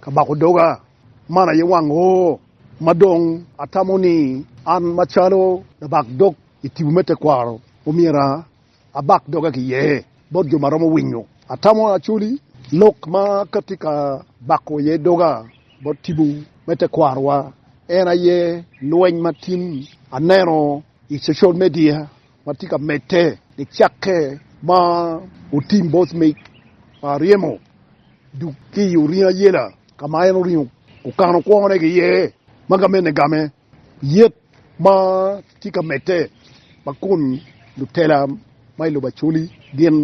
Ka bako doga, man aye wang o ma dong atamo ni an macalo labak dog i tipo me tekwaro omyero abak doga ki iye bot jo ma romo winyo. Atamo acoli lok ma ka tye ka bako iye doga bot tipo me tekwarowa en aye lweny ma tin aneno i cocal media. ma tye ka medde nicakke ma otim bot mic pa aryemo duk ki i oringo ayela ka ma en oringo okano kwone ki iye ma gamene game yet ma tye ka medde ma kun lutela ma i lobo Acholi gin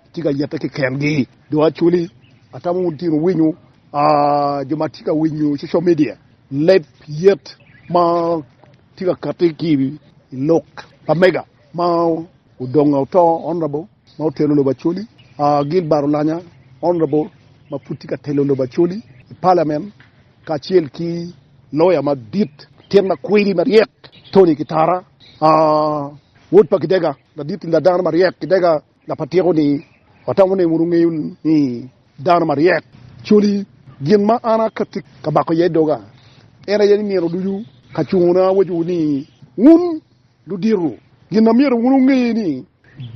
Atye ka yette kekengi. Dong actually atamo wun tino winyo jo ma tye ka winyo social media leb yet ma tye ka kati ki i lok pa mega ma odongo oto honorable ma otelo lobo Acholi Gilbert Olanya honorable ma pud tye ka telo lobo Acholi i parliament kacel ki lawyer madit latin makwidi maryek Tony Kitara wod pa Kidega. Ladit ni ladano maryek kidega lap atyeko ni watamo ni wunu ngeyo ni dano maryek coli gin ma an akatti ka bako iye doga en aye ni nino ducu ka cungo na awacowu ni wun ludito gin na myero wunu nge ni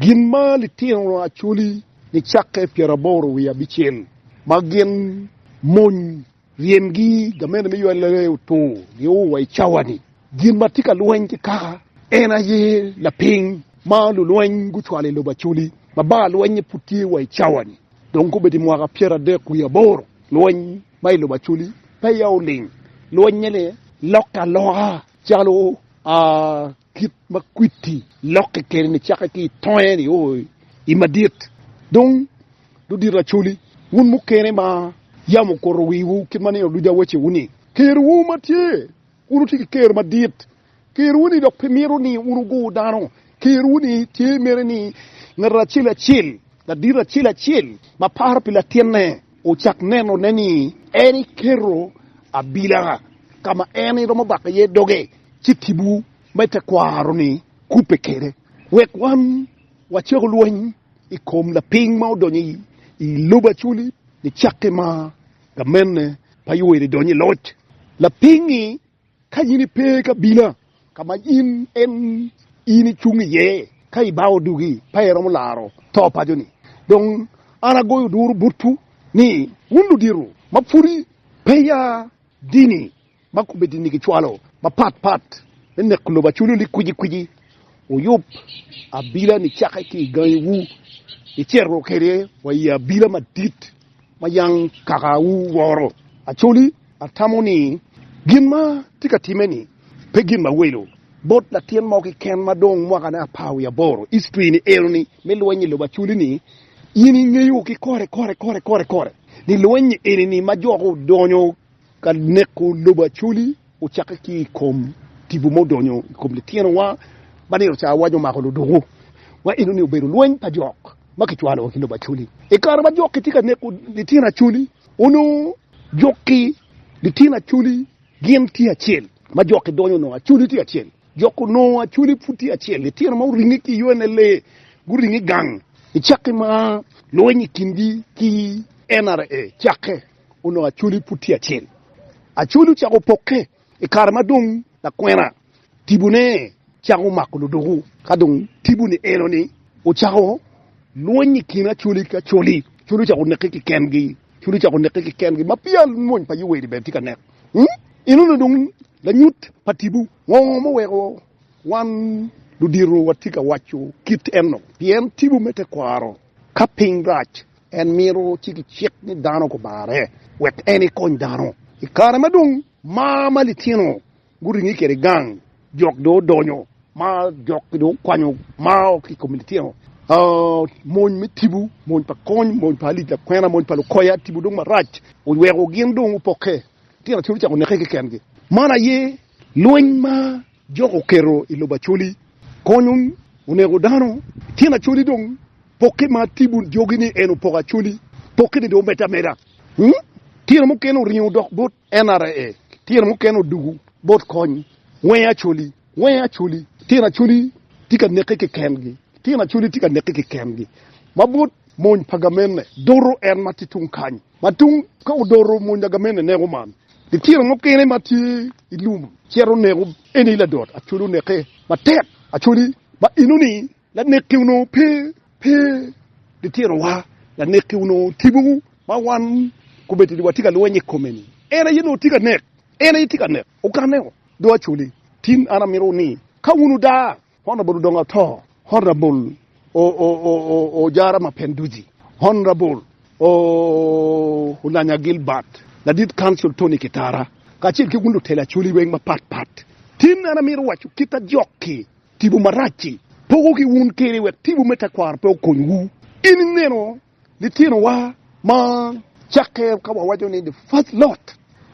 gin ma litino acoli ni cakke pyeraboro wiye abicel ma gin mony Ryemgi, gamente me ywal laree otungo nio wa i cawa-ni. Gin ma tye ka lweny ki kaka en aye lapiny ma lulweny gucwalo i lobo Acoli ma bar lwenye pud tye wa i cawa-ni. Dong kobedo i mwaka pyeradek wiye aboro, lweny ma i lobo Acoli peya oling. Lwenye-ni lokke aloka calo a. Kit ma kwiti lokke kwede-ni cakke ki i tongnge ni, Oi, i madit dong ludito acoli, wun mukene ma yam okuto wiwu kit ma nino ducu awacewu-ni, Kerwu ma tye, wun wutye ki ker madit, kerwu-ni dok pe mito ni wun wugur dano, kerwu-ni tye mere ni ngat acel acel, ladito acel acel ma paro pi latinne, ocak nenone ni en eketo abila ka ma en eromo bako iye doge. ci tipo me tekwaro-ni kubbe kwede wek wan wacako lweny i kom lapiny ma odonyo i lobo acoli nicakke ma gamente pa Yoweri donyo i loc. Lapiny-ngi ka in ipe i kabila ka ma in in icung iye, ka ibao odugi pe iromo laro to paco-ni. Dong an agoyo duru botwu ni wun ludito ma pwodi peya Dini ma komiti-ni gicwalo mapat pat me neko lobo aculo ni kwici kwici wuyub abila-ni cakke ki i gangiwu, icito kwede wa i abila madit ma yam kakawu woro. Acoli atamo ni gin ma tye ka timme-ni pe gin mawelo bot latin mo keken ma dong mwakane apar wiye aboro. History-ni ero ni me lweny i lobo aculi-ni In ingeyo ki kore kore kore kore kore ni lweny-nyi eni-ni ma jo gudonyo ka neko lobo Acholi ocakke ki i kom tipo ma odonyo i kom litinowa ma nino ca awaco mako ludoko wa eno-ni obedo lweny pa jok ma kicwalo wa ki lobo Acholi. I kare ma jok-ki tye ka neko litino Acholi, onongo jok-ki litino Acholi gin tye acel ma jok-ki donyo onongo Acholi tye acel. Jok onongo acwele pud tye acel, litino ma oringe ki yo ene lee guringo i gang. I cakke ma lweny i kingi ki NRA cakke, onongo acwele pud tye acel. Acwele ocako pokke i kare ma dong lakwena tibone cako mako ludoko. Ka dong tibo ni eno ni ocako lweny i kin acwele ki acwele, acwele ocako oneke ki kengi, acwele ocako oneke ki kengi ma peya mony pa Yoweri bene tye ka nek. Enoni dong Lanyut pa tipo, Ngo muweko wan ludito watye ka waco kit enok? Pien tipo me tekwaro, ka piny rac, en mito ci kicik ni dano kubare wek en ekony dano. I kare ma dong mar ma litino guringe kwede gang, jok dong odonyo ma jok dong okwanyo mar ki i kom litino. Mony me tipo, mony pa kony, mony pa alic lakwena, mony pa lukoya, tipo dong marac oweko gin dong gupokke. Tyen Acoli ocako neke kekengi. Man aye lweny ma Jok oketo i lobo Acoli konyo oneko dano. Tyen Acoli dong pokke ma Tibun jogi ni en opoko Acoli pokke ni dong omedde ameda. Tyen mukene oringo dok bot NRA. Tyen mukene odugu bot kony Wenge Acoli. Wenge Acoli. Tyen Acoli tye ka neke kekengi. Tyen Acoli tye ka neke kekengi ma bot mony pa gamenne doto en ma tye tung kany. Ma tung ka odoro mony lagamene neko man, litino mukene ma tye i lum cito neko eni ladot acoli oneke matek acoli ma enoni lanekki onongo pe pe litinowa lanekki onongo tipo ma wan kobedo ni watye ka lweny i kome ni en aye onongo tye ka nek en aye tye ka nek okaneo do acoli tin an amito ni ka wun odaa Honorable dong ato. Honorable oo Jara Mapenduzi, Honorable oo Olanya Gilbert, Ladit Council Tony Kitara, kacel ki wun lutelo Acholi weng mapat pat, tin an amito waco kit ma jok-ki tipo marac-ci poko ki wun kede wek tipo me tekwaro pe okonywu. In ineno Litinowa ma cakke ka wawaco ni the first lot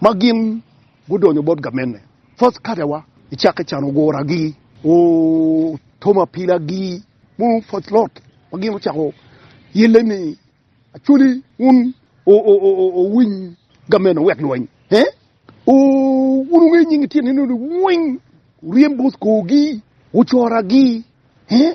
ma gin gudonyo bot gamenne, first catewa, i cakke can oguragi, otomo apilagi, mono first lot ma gin ocako yelle ni Acholi wun owiny gamenne wek lweny ee, wun wungeyo nying litino eno ni weng, wuryem bot korgi, wucoragi ee.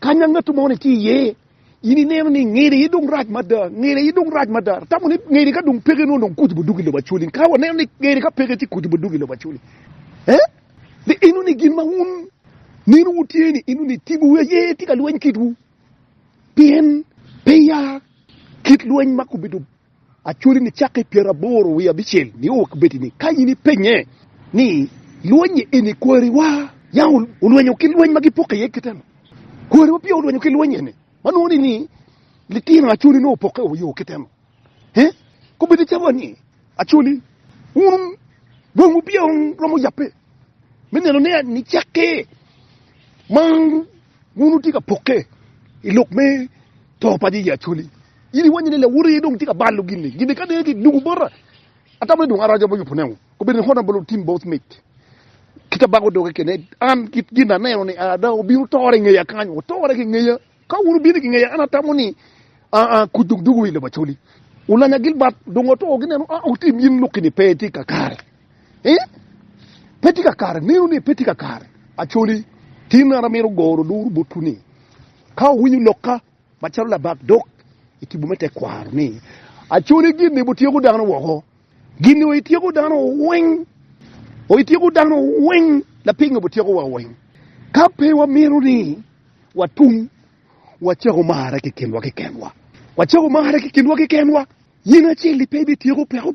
Kanya ngat mo ni tye iye, in ineno ni ngede aye dong rac mada, ngede aye dong rac mada. Atamo ni ngede ka dong peke nongo dong kuc bo duk i lobo Acholi. Ka waneno ni ngede ka peke ci kuc bo duk i lobo Acholi. Eh? Ni eno ni gin ma wun nino wutye ni eno ni tibu wi aye tye ka lweny kitwu. Pien peya kit lweny ma kubedo Acwali ni cakke i pyeraboro wiye abicel nio wa kibedi ni ka in ipenye ni lwenyi eni kwari wa yam olwenyo ki lweny ma gipoko iye kite ni kwari wa peya olwenyo ki lweny eni ma nongo ni ni litino acwali nongo opoke wa yo kite ni he kobedi calo ni acwali wun dong wupeya romo yape. me neno ni nicakke ma wun wutye ka pokke i lok me to pa Yecu Acholi. In iwanyo ni lawoti aye dong tye ka balo gini. Gini ka dong kidungo bota, atamo ni dong araco bocco punewu. Obedo ni honorable otim both mic ki tabako doge kene. An kit gin aneno ni ada obino tore ngeya kany, otore ki ngeya. Ka wun ubino ki ngeya, an atamo ni kuc dong dugo i lobo Acholi. Ulanya Gilbert dong oto gineno, ah, otim in lok kini pe tye kakare. Eeh pe tye ka kare, neno ni pe tye ka kare. Acholi, tin an amito goro luru botwu ni, ka wuwinyo lokka macalo labak dok i tipo me tekwaro ni, Acholi gin ni butyeko dano woko, gin ni oityeko dano weng, oityeko dano weng, lapingo butyeko wa weng. Ka pe wamito ni watung, wacako marre kikinwa kikenwa, wacako marre kikinwa kikenwa, yen acel-li pe ibityeko peko.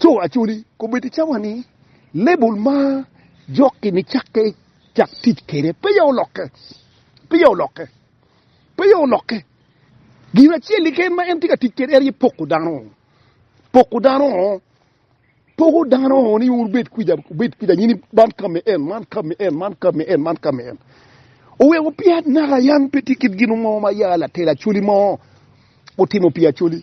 Co Acholi kobbe ti cawa ni label ma jokki ni cakke cak tic kede peya olokke, peya olokke, peya olokke. Gin acel keken ma en ti ka tic kede en aye poko dano, poko dano, poko dano ni wun wubed kwica, wubed kwica nyini man ka me en, man ka me en, man ka me en, man ka me en. Oweko peya naka yan pe ti kit gin mo ma ya latel Acholi mo otimo pi Acholi.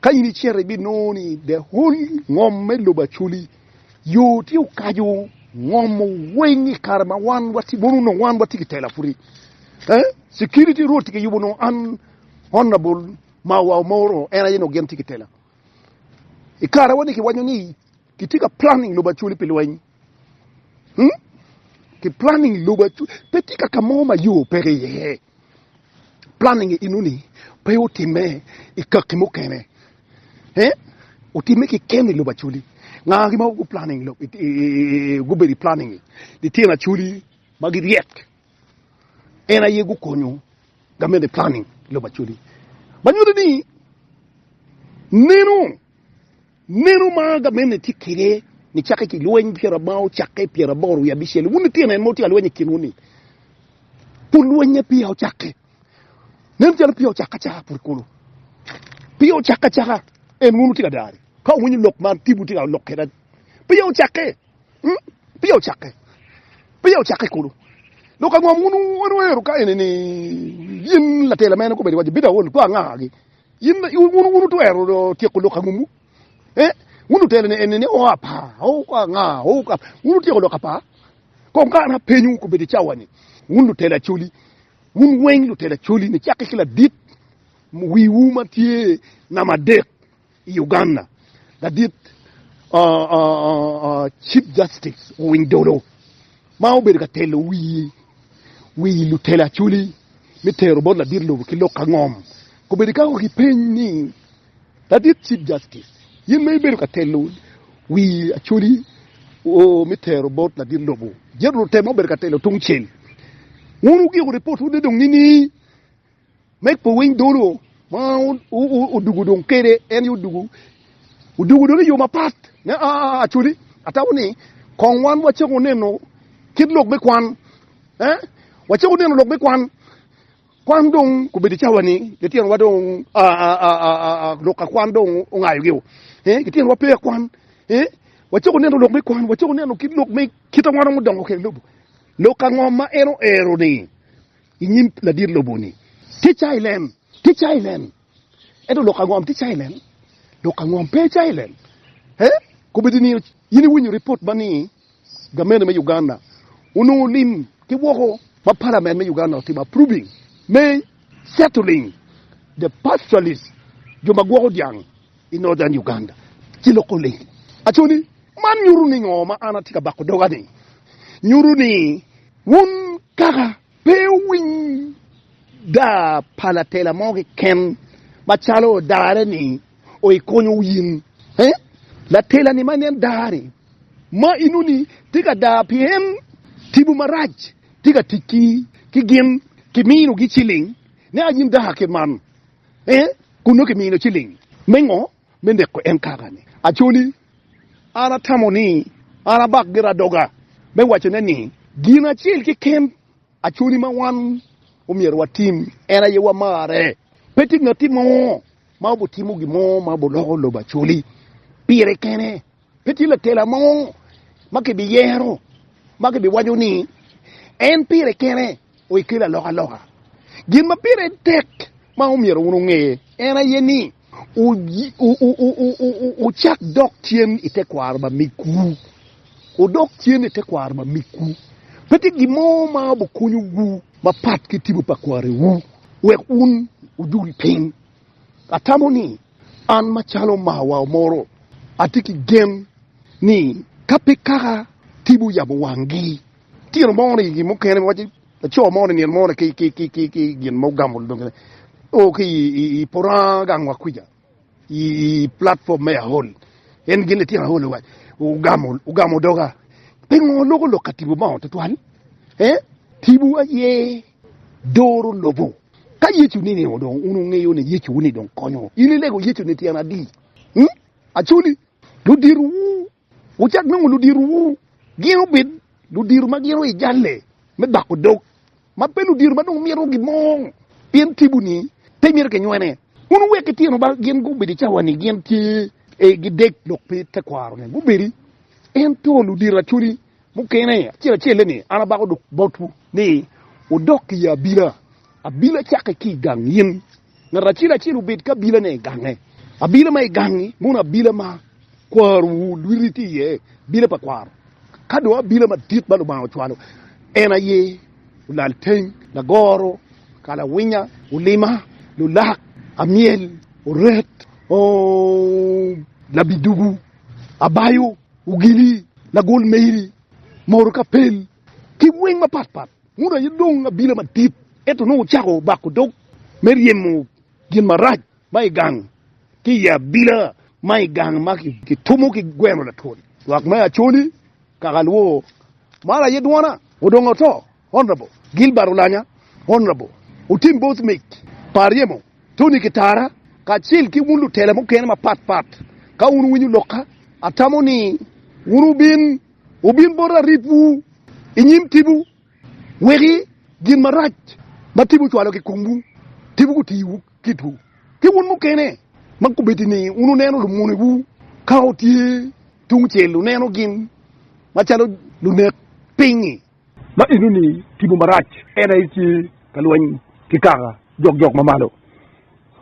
Ka in icito ibinongo ni the whole ngom me lobo Acholi yo tye okaco ngom weng i kare ma wan watye mono onongo wan watye ki tela pwod eh security road tye kiyubo onongo an honorable Mawa Omoro en aye onongo gin tye ki tela i kare wa ni kiwaco ni Kitye ka planning lubo acwali pi lweny. Hmm? Ki planning lubo acwali. Pe tye kaka mo ma yo peke iye. Planning inuni pe otimme i kakki mukene. Eh? Otimme ki keni lubo acwali. Ngagi ma gu planning lo, i, i, i, gubedo i planning i. Litino acwali ma giryek. En aye gukonyo gamene planning lubo acwali. Ma nyuto ni neno Meno ma gamente tye kwede nicakke ki lweny pyera ma ocakke pyera aboro wiye abicel-li. Wun litino en ma wutye ka lweny i kinwu-ni, pud lweny-nge peya ocakke. Nen calo peya ocakke acaka pud kulu. Peya ocakke acaka. En wun wutye ka dare. Ka wuwinyo lok ma tibu tye ka lok kwede, peya ocakke. Peya ocakke. Peya ocakke kulu. Dok ango ma wun wunwero ka eni ni yin latela mene kobedi waco, Bino aolo kor angagi? Wun wutwero tyeko lok angumwu? Wun lutelone eni ni o apa, o ka nga, o ka. Wun wutyeko lok apa? Kong ka an apenyowu kobedo i cawa-ni, wun lutelo acoli, wun weng lutelo acoli nicakke ki ladit wiwu ma tye namba adek i Uganda, ladit Chief Justice Owiny Dollo. ma obedo ka telo wi lutelo acholi me tero bot ladit lobo ki lok ka ngom, kobedo ikako ki peny ni, Ladit Chief Justice, in ma ibedo ka telo wi acholi me tero bot ladit lobo, jito lutemo ma obedo ka telo tungcel, wun wugiko ripotwu ni dong nining? Meg pe winy dolo ma odugu dong kede en yo odugu odugu dong iyo mapat ne acoli atabo ni kong wan wacako neno kit lok me kwan eh wacako neno lok me kwan kwan dong kubedo icawa ni litino wa dong lok akwan dong ongayo gi eh litino wa pe akwan eh wacako neno lok me kwan wacako neno kit lok me kit awan odongo kede lobo lok angom ma en oero ni i nyim ladit lobo ni, Tye cayi nen! Tye cayi nen! Ento lok angom tye cayi nen? Lok angom pe cayi nen? He? Kobedi ni in iwinyo ripot ma ni gamente me Uganda onongo lim ki woko ma palament me Uganda otimo approving me settling the pastoralist, jo ma gwoko dyang, i Northern Uganda ci loko lim? Aco ni, man nyuto ni ngo ma an atye ka bako doga ni? Nyuto ni. Wun kaka pe wuwiny daa pa latela mo keken macalo odare ni o i konyo wu in? Ee, latela ni ma nen daa ni ma inu ni tye ka daa pien timwu marac tye ka tic ki ki gin ki mino gi ciling ne a in daa kit man. Ee, kun nongo ki mino ciling me ngo me neko en kaka-ni. Acholi, an atamo ni an abak gira doga me wacone ni, gin acel keken Acholi ma wan omyero watim en aye wamarre. Pe tye ngat mo ma obitimo gin mo ma obiloko lobo Acholi pire kene. Pe tye lakela mo ma kibiyero ma kibiwaco ni en pire kene oye kelo alokaloka. Gin ma pire tek ma omyero wun wunge en aye ni wucak dok cen i tekwaro ma migwu. Wudok cen i tekwaro ma migwu. Pe tye gin mo ma obikonyowu mapat ki tipo pa kwariwu wek wun wudul piny. Atamo ni an macalo omarwa omoro atye ki gen ni ka pe kaka TV oyabo wanggi tino mo ni gin mukene ma waco laco mo ni nino mo ni ki gin ma ogamo o ki i puranga gang wa kwica i platform me Ahol en gin litino Ahol owaco ogamo doga pingo loko lok ka TV obongo tutwal TV aye doro lobo. Ka Yecu ni nino dong un wungeyo ni Yecu ni dong konyo in ilego Yecu ni tyen adi? Ung? Actually ludiro wu wucak nongo ludiro wu gin obed ludiro ma gin oyi jalle me bako dog ma pe ludiro ma dong mito gin mo pien tibu ni pe mito ki nywene. Un wuwek ki tino ba gin gubed i cawa ni gin tye e gi dek dok pe tekwaro ni gubedi ento ludiro actually Mukene acel acel-le ni, An abako dok botwu ni wudok i abila. Abila cakke ki i gang yen. Ngat acel acel obed ki abilane i gange. Abila ma i gangi mono abila ma kwarowu lwiti tye iye, abila pa kwaro. Ka dong abila madit ma Lubanga ocwalo en aye olalteng, lagoro, kalawinya, olima, lulak, amyel, oret, labidugu, abayo. Ogili, lagol meri, moro ka pel, ki weng mapat pat. Muda aye dong abila madit, ento nongo ocako bako dog me ryemo gin marac ma i gang ki i abila ma i gang ma kitumo ki gweno latwon. Lwak me Acholi, Kakalwo, maro aye dwona, odongo to. Honorable Gilbert Olanya, Honorable Otim Both Mic pa Aryemo, Tony Kitara kacel ki wun lutela mukene mapat pat ka wun wuwinyo lokka atamo ni wun wubin wubin bot aripwu i nyim tipo weki gin marac ma tipo ocwalo ki komwu tipo gutiwu kitwu ki wun mukene ma kubeddi ni wun wuneno lumonewu ka wutye tungcel wuneno gin macalo lunek piny-ngi. ma enoni timo marac, en aye tye ka lweny ki kaka jokjok ma malo.